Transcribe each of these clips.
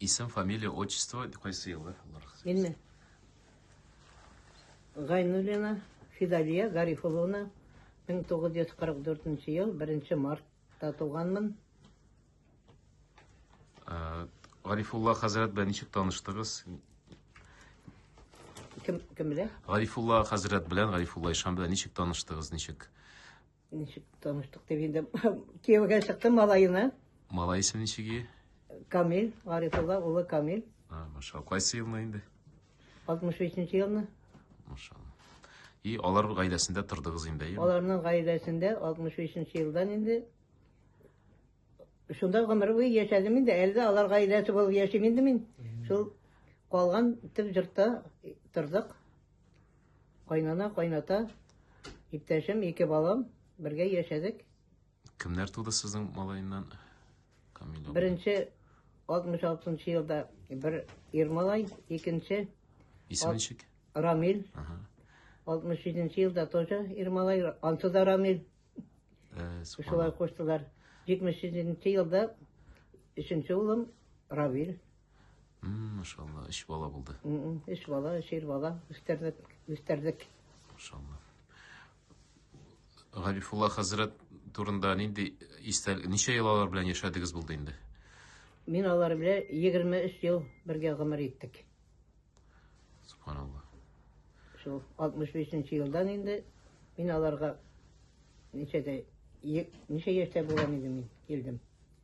Исем, фамилия, отчество, кайсы еллар? Минме? Гайнуллина Фидалия Гарифовна 1944 ел 1 мартта туганмын. Э, Гарифулла хәзрәт белән ничек таныштыгыз? Кем кем белән? Гарифулла хәзрәт белән, Гарифулла Ишан белән ничек таныштыгыз, ничек? Ничек таныштык дип инде кияүгә чыктым малаена. Малай исеме ничек ие? Камил, Гарифулла улы Камил. А, машалла. Кайсы елны инде? 63 елны. Машалла. И алар гаиләсендә тордыгыз инде, әйеме? Аларның гаиләсендә 63 елдан инде шунда гомер буе яшәдем инде. Әле дә алар гаиләсе булып яшим инде мин. Шул калган төп җортта тордык. Кайнана, кайната, иптәшем, ике балам, бергә яшәдек. Кемнәр туды сезнең малаеннан? Камил абый. Беренче 66 елда бер ир малай, икенче Исеме ничек? Рамил. Ага. 67 елда тоже ир малай, ансы да Рамил. Э, Шулай субханалла. куштылар. 77 елда өченче улым Равил. Машалла, өч бала булды. Өч бала, өч ир бала үстердек, үстердек. Машалла. Гарифулла хәзрәт турында нинди истәл, ничә ел алар белән яшәдегез булды инде? Мин алар белән 23 ел бергә гомер иттек. Субханалла. Шул 65 елдан инде мин аларга ничәдә ничә яшьтә булган идем мин килдем.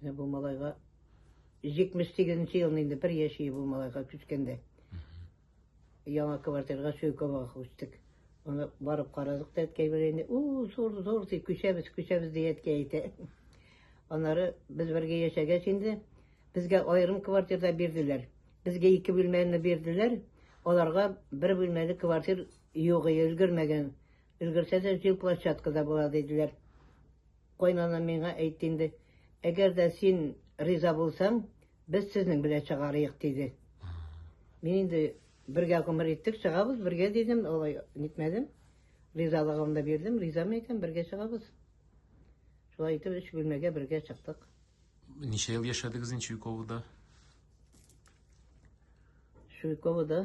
Менә бу малайга 78 елны инде бер яши бу малайга күчкәндә. Яңа квартирга Сөйковага күчтек. Аны барып карадык та әткәй белән инде, у, зур, зур, ди, күчәбез, күчәбез, ди әткәй әйтә. Аннары без бергә яшәгәч инде, безгә аерым квартирда бирделәр. Безгә ике бүлмәне бирделәр, аларга бер бүлмәле квартир юк, өлгермәгән. Өлгерсә дә, җил площадкада була, диделәр. Кайнана миңа әйтте инде, Әгәр дә син риза булсаң, без сезнең белән чыгарыйк, диде. Мин инде бергә гомер иттек, чыгабыз бергә дидем, алай нитмәдем. Ризалыгымны да бирдем, ризамы икән, бергә чыгабыз. Шулай итеп, өч бүлмәгә бергә чыктык. Ничә ел яшәдегез инде Чуйковода? Чуйковода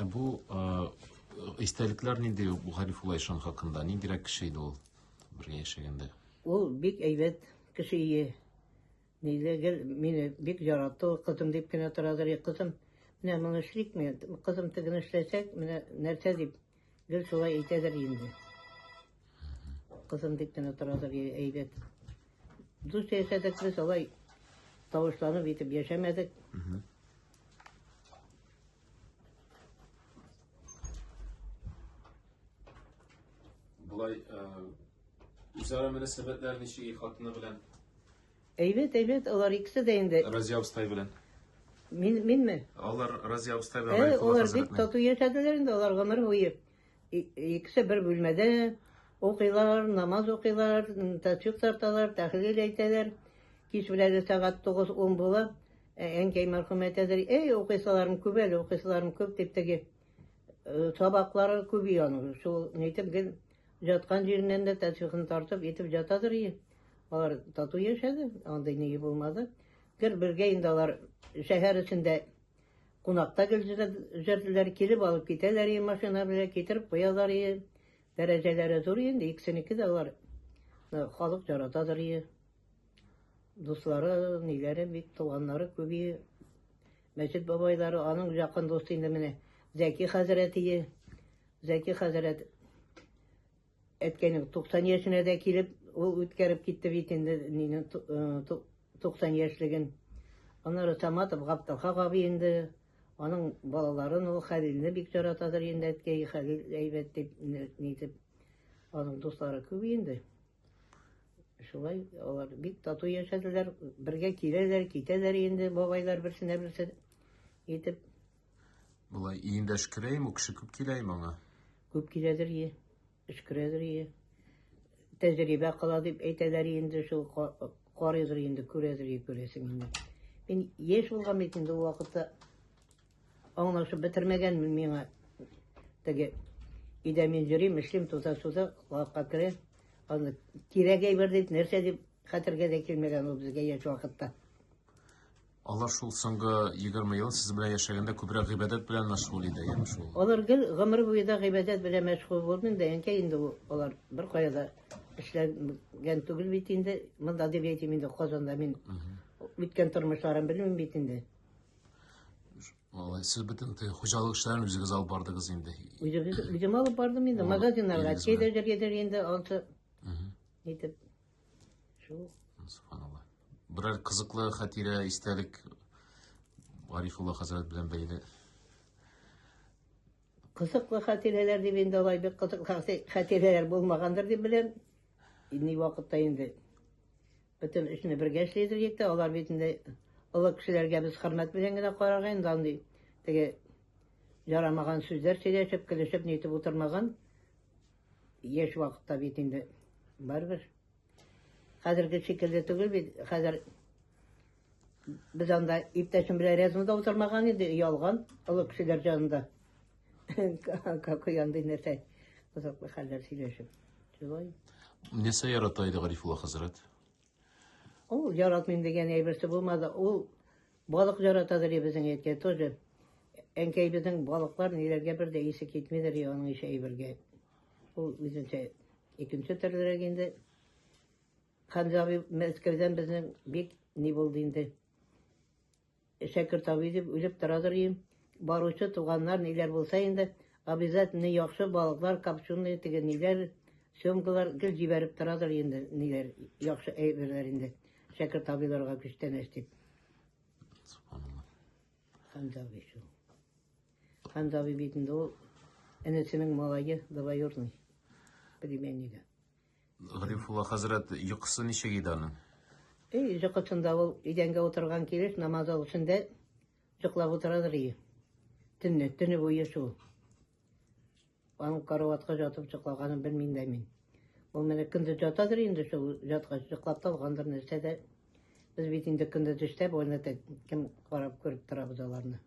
Ә бу истәлекләр нинди бу Гарифулла ишан хакында? Ниндирәк кеше иде ул бергә яшәгәндә? Ул бик әйбәт кеше ие. Ниле гел мине бик яратты, кызым дип кенә торадыр, кызым. Менә моны эшлик мин, кызым тегене эшләсәк, менә нәрсә дип Гел шулай әйтәдер инде. Кызым дип кенә торадыр, әйбәт. Дус яшәдек без, алай тавышланып итеп яшәмәдек. Болай, үзара мөнәсәбәтләр ничек хатыны белән? Әйбәт, әйбәт, алар икесе дә инде. Разия абыстай белән. Мин, минме? Алар Разия абыстай белән Ә, Гарифулла алар бик хәзрәтнең. тату яшәделәр инде, алар гомер буе. И- Икесе бер бүлмәдә укыйлар, намаз укыйлар, м, тәсбих тарталар, тәхлил әйтәләр. Кич беләге сәгать 9-10 була. Ә, Әнкәй мәрхүм әйтәдер, эй, укыйсыларым күп әле, укыйсыларым күп, дип теге э, сабаклары күби аның. Шул, нитеп, гел Жаткан җиреннән дә тәтвихын тартып итеп жатадыр ие. Алар тату яшәде, андый ние булмады. Гел бергә инде алар шәһәр эчендә кунакта гел җөрделәр, килеп алып китәләр ие машина белән, китереп куялар ие. Дәрәҗәләре зур инде, икесенеке дә алар халык яратадыр ие. Дуслары, ниләре бик туганнары күп ие. Мәчет бабайлары, аның якын дусты инде менә Зәки хәзрәт ие. Зәки хәзрәт әткәйнең 90 яшенә дә килеп, ул үткәреп китте бит инде мине 90 яшьлеген. Аннары Саматов Гапталхак абый инде аның балаларын ул Хәлилне бик яратадыр инде әткәй Хәлил әйбәт дип нитеп аның дуслары күп инде шулай алар бик тату яшәделәр бергә киләләр китәләр инде бабайлар берсенә берсе итеп Болай иендә шкерәйме, үкше күп киләйме аңа? Күп киләдер ие, шкерәдер ие. Тәҗрибә кала дип әйтәләр инде шул карыйдыр инде, күрәдер ие күрәсең инде. Мин яшь булган бит инде ул вакытта аңлашып бетермәгәнмен миңа теге өйдә мин йөрим, эшлим, туза-суза, лавка керә. Аны кирәк әйбер дип, нәрсә дип хәтергә дә килмәгән ул безгә яшь вакытта. Алар шул соңгы егерме ел сез белән яшәгәндә күбрәк гыйбадәт белән мәшгуль иде, яме шул? Алар гел гомер буе да гыйбадәт белән мәшгуль булмыйм да, әнкәй, инде ул алар беркая да эшләгән түгел бит инде. Монда дип әйтим инде, Казанда мин үткән тормышларын белмим бит инде. Алай, сез бөтен хуҗалык эшләрен үзегез алып бардыгыз инде. Үзегез үзем алып бардым инде, магазиннарга, кедергә-кедергә инде алты. Итеп. Субханалла. Берәр кызыклы хатирә, истәлек Гарифулла хәзрәт белән бәйле. Кызыклы хатирәләр дип инде алай бик кызыклы хатирәләр булмагандыр дип беләм. Ни вакытта инде бөтен эшне бергә эшләйдер итте. Алар бит инде олы кешеләргә без хөрмәт белән генә карарга инде андый теге ярамаган сүзләр сөйләшеп, көлешеп, нитеп утырмаган. Яшь вакытта бит инде барыбер. Хәзерге шикелле түгел бит. Хәзер без анда иптәшем белән рядом да утырмаган иде, ялган олы кешеләр җанында. Какой андый нәрсә кызыклы хәлләр сөйләшеп. Шулай. Нәрсә ярата иде Гарифулла хәзрәт? Ул яратмыйм дигән әйберсе булмады. Ул балык яратадыр, безнең әйткән тоже. Әнкәйебезнең балыклар ниләргә бер дә исе китмидер, аның ише әйбергә. Ул үзенчә икенче төрлерәк инде. Хәмзә абый Мәскәүдән безнең бик ни булды инде. Шәкерт абый дип үлеп торадыр ием. Баручы туганнар ниләр булса инде, обязательно яхшы балыклар, копченые, теге ниләр, семгалар гел җибәреп торадыр инде, ниләр, яхшы әйберләр инде. Шәкерт абыйларга күчтәнәч дип. Хандаби шул. Хандаби бит инде ул энесенең малае, двоюрный, племяннигы. Гарифулла хәзрәт йокысы ничек иде аның? Эй, йокысында ул идәнгә утырган килеш намаз зал эчендә йоклап утырадыр и. Төнне, төне буе шул. Аның караватка жатып йоклаганын белмим дә мин. Ул менә көндез жатадыр инде шул жаткач йоклап та алгандыр нәрсә дә. Без бит инде көндез эштә, бу кем карап күреп торабыз аларны.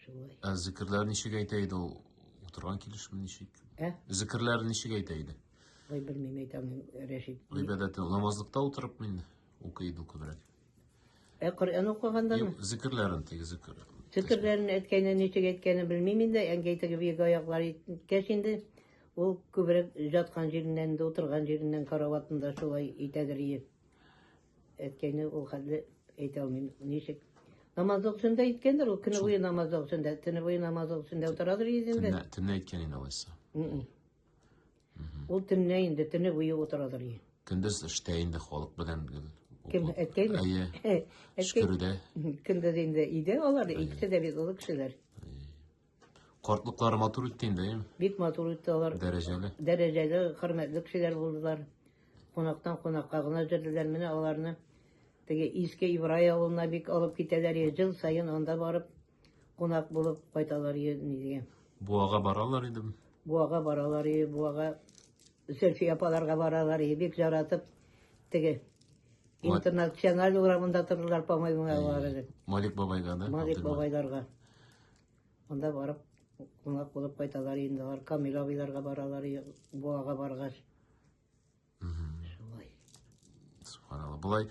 Шулай. Ә зикерләр ничек әйтә иде ул? Утырган килешме ничек? Ә? Зикерләр ничек әйтә иде? Ой, белмим, әйтәм, Рәшит. Гыйбадәте намазлыкта утырып мин укый иде күбрәк. Ә Коръән укыганда Юк, зикерләрен теге зикер. Зикерләрен әйткәнен, ничек әйткәнен белмим инде, әнкәй теге биек аяклар иткәч инде, ул күбрәк жаткан җиреннән, утырган җиреннән караватында шулай итәдер иде. Әткәйне ул хәтле әйтә алмыйм, ничек. Намаз вакытында әйткәндер ул, көне буе намаз вакытында, төне буе намаз вакытында утырадыр инде. Төнлә әйткән инде алайса. Ул төнлә инде, төне буе утырадыр. Көндез эштә инде халык белән Кем әткәйме? Әйе. Шкөрдә. Көндез инде өйдә алар, икесе дә бит олы кешеләр. Картлыклары матур үтте инде, әйеме? Бик матур үтте алар. Дәрәҗәле. Дәрәҗәле, хөрмәтле кешеләр булдылар. Кунактан кунакка гына җөрләр менә аларны. Теге иске Ибрай авылына бик алып китәләр, ел саен анда барып кунак булып кайталар нигә. Буага баралар иде. Буага баралар иде, буага Зөлфия апаларга баралар иде, бик жаратып теге интернациональ урамында тордылар, по-моему, алар. Малик бабайга да. Малик бабайларга. Анда барып, кунак булып кайталар инде. Алар Камил абыйларга баралар, Буага баргач. Шулай. Субханалла. Болай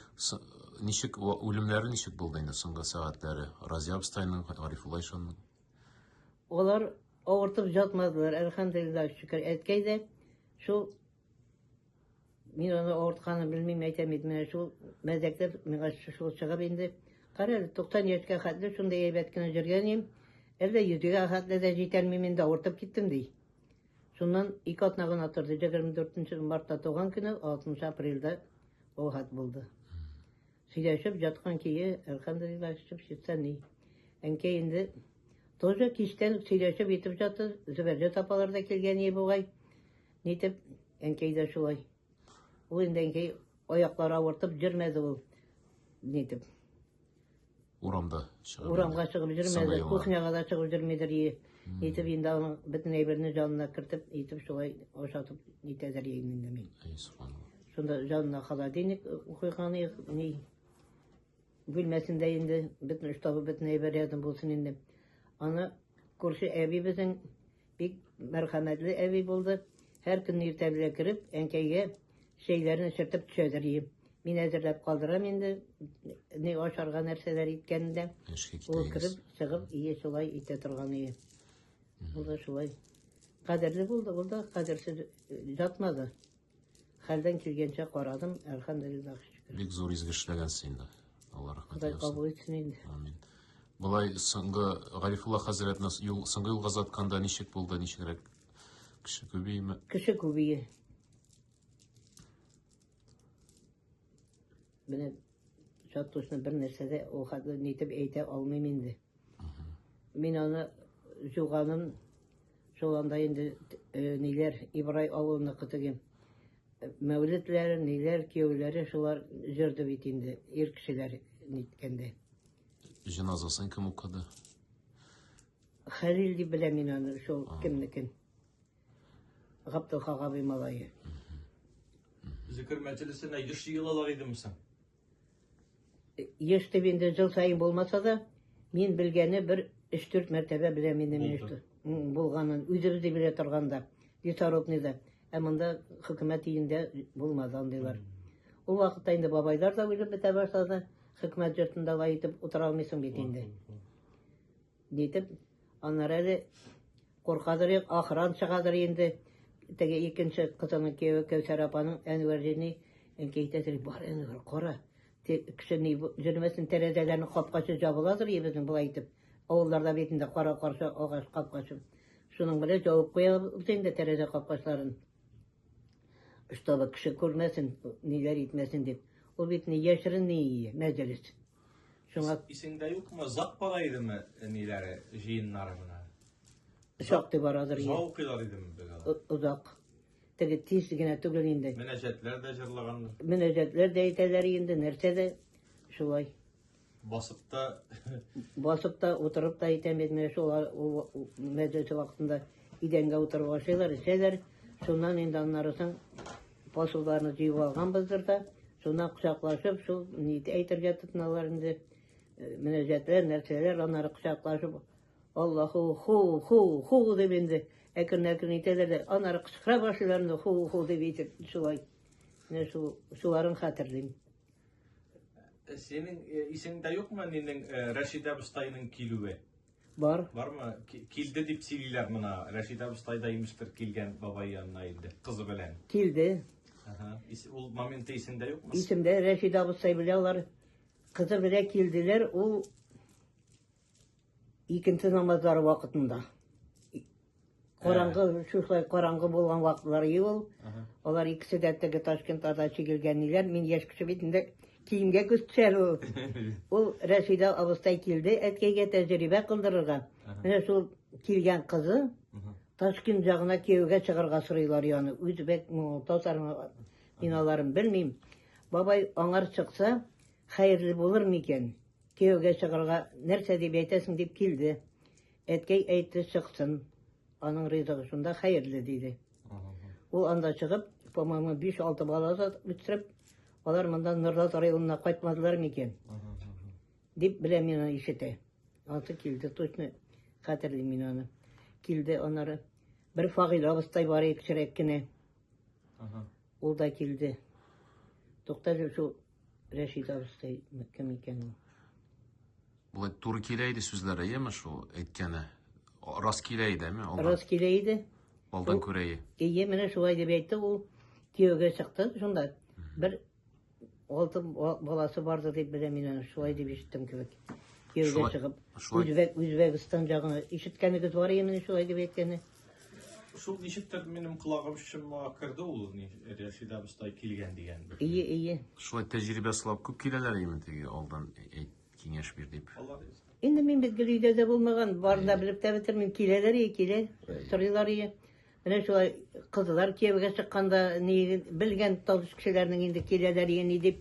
ничек үлемнәре ничек булды инде соңгы сәгатьләре? Разия абыстайның, Гарифулла ишанның? Алар авыртып жатмадылар, әлхәмдулилла, шөкер. Әткәй дә шул Мин аны авыртканын белмим, әйтәм бит, менә шул мәзәктә миңа шул чыгып инде. Кара әле, 90 яшькә хәтле шундый әйбәт кенә җөргән идем. Әллә йөзгә хәтле дә җитәлмим инде, авыртып киттем ди. Шуннан ике атна гына торды, 24 мартта туган көне, 6 апрельдә вафат булды. Сөйләшеп яткан кие, әлхәмдулилла, шып шитсә ни. Әнкәй инде тоже кичтән сөйләшеп итеп жатты, Зөбәрҗә апалар да килгән ие бугай. Нитеп, әнкәй дә шулай. Ул инде әнкәй аяклары авыртып йөрмәде ул. Нитеп. Урамда чыгып. Урамга чыгып йөрмәде, кухняга да чыгып йөрмидер. Нитеп инде аның бөтен әйберне җанына кертеп, нитеп шулай ашатып нитәдер инде мин. Әй, субханалла. Шунда җанына холодильник куйган ни бүлмәсендә инде бөтен штабы бөтен әйбер рядом булсын инде. Аны күрше әбибезнең Бик мәрхәмәтле әби булды. Һәр көнне иртә белән кереп, әнкәйгә чәйләрен эчертеп төшәдер иде. Мин әзерләп калдырам инде, ни ашарга нәрсәләр иткәнен дә. Эшкә Ул китәйбез. кереп, чыгып, ие шулай итә торган иде. Ул да шулай. Кадерле булды, ул да кадерсез ятмады. Хәлдән килгәнчә карадым, әлхәмдулиллах шөкер. Бик зур изге эшләгәнсең инде. Алла рәхмәт Ходай яусын. кабул итсен инде. Амин. Былай соңгы Гарифулла хәзрәт нас юл соңгы юлга затканда ничек булды, ничегрәк? Кеше күбиме? Кеше күбие. Менә Чат точно бер нәрсә дә ул хәтле нитеп әйтә алмыйм инде. Мин аны җуганым шул анда инде э, ниләр Ибрай авылына кытыгым. Э, мәүлетләре, ниләр кияүләре шулар җырды бит инде ир кешеләр ниткәндә. Җеназасын кем укыды? Хәлил дип беләм мин аны, шул кемнекен. Гаптылхан абый малае. Зикер мәҗлесенә еш җыелалар идеме соң? Еш дип инде жыл саен булмаса да, мин белгәне бер 3-4 мәртәбә беләм инде мин Булды. м, булганын. Үзебез дә белә торганда, лесорубныйда. Ә монда хөкүмәт өендә булмады андыйлар. Ул вакытта инде бабайлар да үлеп бетә башлады. Хөкүмәт йортында алай итеп утыра алмыйсың бит инде. Дитеп, аннары әле куркадыр, ахран чыгадыр инде. Теге икенче кызының кияве Кәүсәр апаның Әнвәрдине әнкәйтәдер, бар Әнвәр, кара. Кеше ни җөрмәсен тәрәзәләрне капкачы жабыладыр и безнең болай итеп. Авылларда бит инде кара каршы агач капкачы. Шуның белән җавып куябыз инде тәрәзә капкачларын. Чтобы кеше күрмәсен, ниләр итмәсен дип. Ул бит ни яшерен, ни мәҗлес. Шуңа исеңдә юкмы, зак бара идеме ниләре, җыеннары менә? Шактый барадыр. Зак укыйлар идеме бегала? Озак. Теге тиз генә түгел инде. Мөнәҗәтләр дә җырлаганнар. Мөнәҗәтләр дә әйтәләр инде, нәрсә дә шулай. Басып та басып та утырып та әйтәм бит менә шул мәҗлесе вакытында идәнгә утырып ашыйлар, эчәләр. Шуннан инде аннары соң Посылларны җыеп алганбыздыр да, шуннан кочаклашып, шул ни әйтергә тотыналар инде, мөнәҗәтләр, нәрсәләр, аннары кочаклашып, Аллаху, ху, ху, ху дип инде әкрен-әкрен итәләр дә, аннары кычкыра башлыйлар инде, ху, ху дип итеп, шулай. Менә шул, шуларын хәтерлим. Синең исеңдә юкмы нинең Рәшидә абыстайның килүе? Бар. Бармы? Килде дип сөйлиләр мына. Рәшид абыстай да имештер килгән бабай янына инде кызы белән. Килде. Ага. Ул моменты исендә юкмы? Исемдә Рәшид абыстай белән алар кызы белән килделәр. Ул икенче намазлары вакытында. Караңгы, шушылай караңгы булган вакытлар ел. Алар икесе дә теге Ташкент ада чигелгән ниләр. Мин яшь кеше бит инде киемгә күз төшәр ул. Ул Рәшидә абыстай килде әткәйгә тәҗрибә кылдырырга. Менә шул килгән кызы Ташкент ягына кияүгә чыгарга сорыйлар яны. Үзбәк, татар мин аларын белмим. Бабай аңар чыкса, хәерле булыр микән? Кияүгә чыгарга нәрсә дип әйтәсең дип килде. Әткәй әйтте, чыксын. Аның ризыгы шунда хәерле, диде. Ул анда чыгып, по-моему, 5-6 бала үстереп, алар монда Норлат районына кайтмадылар микән? Дип беләм мин аны ишетә. Ансы килде, точно хәтерли мин аны. Килде анары. Бер Фагил абыстай бар иде кечерәк кенә. Ул да килде. Тукта шул Рәшит абыстай кем икән ул? Болай туры килә иде сүзләре, яме шул әйткәне. Рас килә иде, әме? Алдан, Рас килә иде. алдан күрәе. Ие, менә шулай дип әйтте ул. Кияүгә чыкты шунда. Бер алты ба- баласы барды дип белә мин аны, шулай дип ишеттем кебек. Кияүгә Шулай- чыгып, шулай- Үзбәк, Үзбәкстан ягына ишеткәнегез бар ие менә шулай дип әйткәне. Шул ничектер минем колагым шыма керде ул Рәшидә абыстай килгән дигән. Ие, ие. Шулай тәҗрибә сылап күп киләләр име теге алдан әйт, киңәш бир дип. Алар Инде мин бит гел өйдә дә булмаган, барны да белеп тә бетермим. Киләләр ие, килә, сорыйлар ие. Менә шулай кызлар кияүгә чыкканда ни белгән таныс кешеләрнең инде киләләр ие ни дип.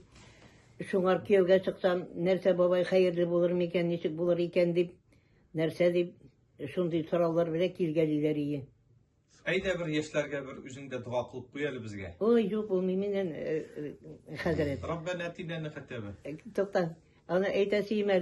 Шуңар кияүгә чыксам, нәрсә бабай хәерле булыр микән, ничек булыр икән дип, нәрсә дип Шундый сораулар белән килгәлиләр ие. Әйдә бер яшьләргә бер үзең дә дога кылып куй әле безгә. Ой, юк, булмый миннән, э, э, хәзрәт. Раббана атинаны хәтәбе. Тукта, аны әйтәсе имә